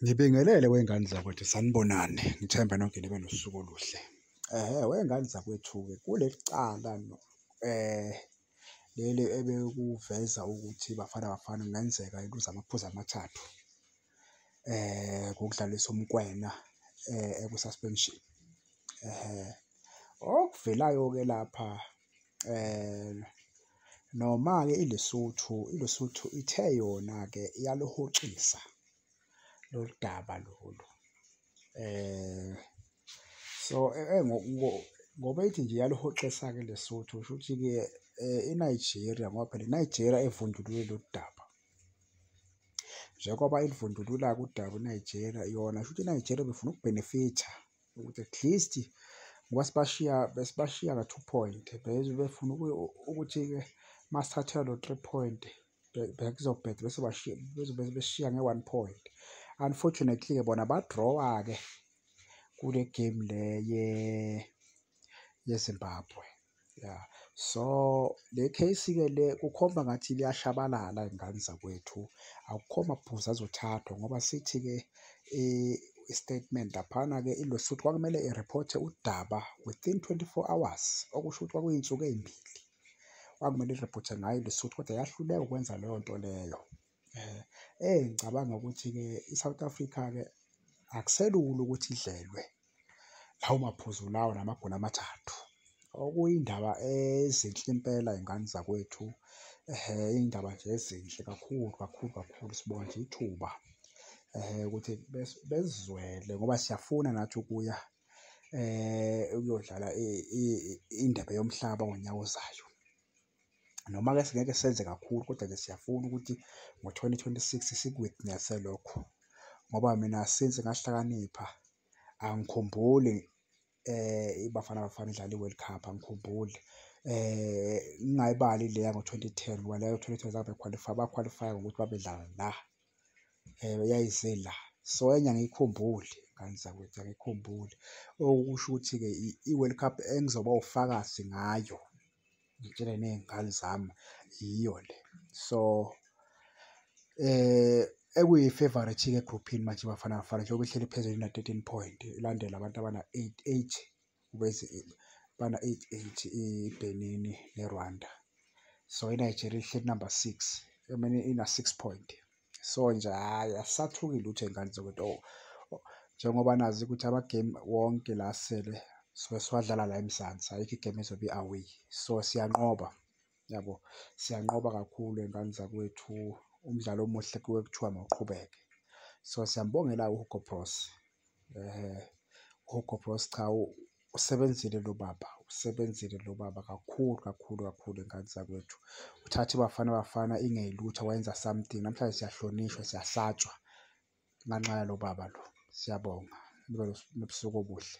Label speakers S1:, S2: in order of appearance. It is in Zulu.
S1: Ngibingelele wey'ngane zakwethu sanibonani ngithemba nonke nibe nosuku oluhle. Ehhe wey'ngane zakwethu-ke kuleli cala um eh, leli ebekuveza ukuthi iBafana Bafana kungenzeka iluze amaphuzu amathathu um ngokudlalisa uMkwena um eku-suspension. Ehhe okuvelayo-ke lapha um noma-ke iLesotho iLesotho ithe yona-ke iyaluhoxisa lolu daba lolu um so e, e, ngoba ithi nje iyaluhoxisa-ke iLesotho kusho ukuthi-ke um iNigeria ngoba phela iNigeria evundulule lolu daba njengoba ilivundulula-ke udaba iNigeria yona kusho ukuthi iNigeria befuna ukubhenefitha ukuthi at least ngoba sibashiya besibashiya ka two point beze befuna ukuthi-ke uma sithathelwa lo three point bekuzobheda bese bashiya bezobe beshiya nge-one point unfortunately-ke bona badrawa-ke kule game le yezimbabwe ya so le case-ke le kukhomba ngathi liyashabalala iy'ngane zakwethu akukho mabhuzi azothathwa ngoba sithi-ke i-statement laphana-ke ilosi ukuthi kwakumele iriphothe udaba within 24 hours okusho ukuthi kwakuyinsuku ey'mbili kwakumele iriphothe ngayo ilosi ukuthi kodwa yahluleka ukwenza leyo nto leyo Eh, eh ngicabanga ukuthi-ke i-South Africa-ke akuselula ukuthi idlelwe lawo maphuzu lawo namagoli amathathu. Okuyindaba ezinhle impela iy'ngane zakwethu, iy'ndaba nje ezinhle kakhulu kakhulu kakhulu. Sibonga nje ithuba ukuthi besizwele ngoba siyafuna nathi ukuya ukuyodlala indebe yomhlaba ngonyaka ozayo. noma-ke singeke senze kakhulu kodwa-ke siyafuna ukuthi ngo-2026 siku-witness-e lokho ngoba mina since ngahlakanipha angikhumbuli eh iBafana Bafana idlala iWorld Cup angikhumbuli eh ngingayibali leya ngo-2010 ngoba leyo 2010 zange bequalify baqualify ngokuthi babedlala la um yayizila so enye angiyikhumbuli ngane zakwethu angiyikhumbuli. Okusho ukuthi-ke i-World Cup engizoba wufakazi ngayo ngitshele ney'ngane zami yiyo le. So um ekuyi-favourite-ke egruphini manje iBafana Bafana njengoba ihleli phezulu ina-thirteen point ilandelwe abantu abana-eight eight. bana i-eight ibenini nerwanda so inigeria ihleli number six emane ina-six point so nje hhayi asisathuki lutho ey'ngane zokuthi o oh, njengoba nazi ukuthi amagame wonke la asele sobe siwadlala la emzansi ayikho igame ezobe i-away so siyanqoba yabo siyanqoba kakhulu ey'ngane zakwethu umdlalo omuhle kuwe kuthiwa mawuqhubeke so siyambongela uhugo bros um eh, uhugo bros cha usebenzile lo baba usebenzile lo baba kakhulu kakhulu kakhulu ey'ngane zakwethu uthathe ibafana bafana ingeyilutho wayenza something namhlanje siyahlonishwa siyahlatshwa nganxaya lo baba lo siyabonga nibe nobusuku obuhle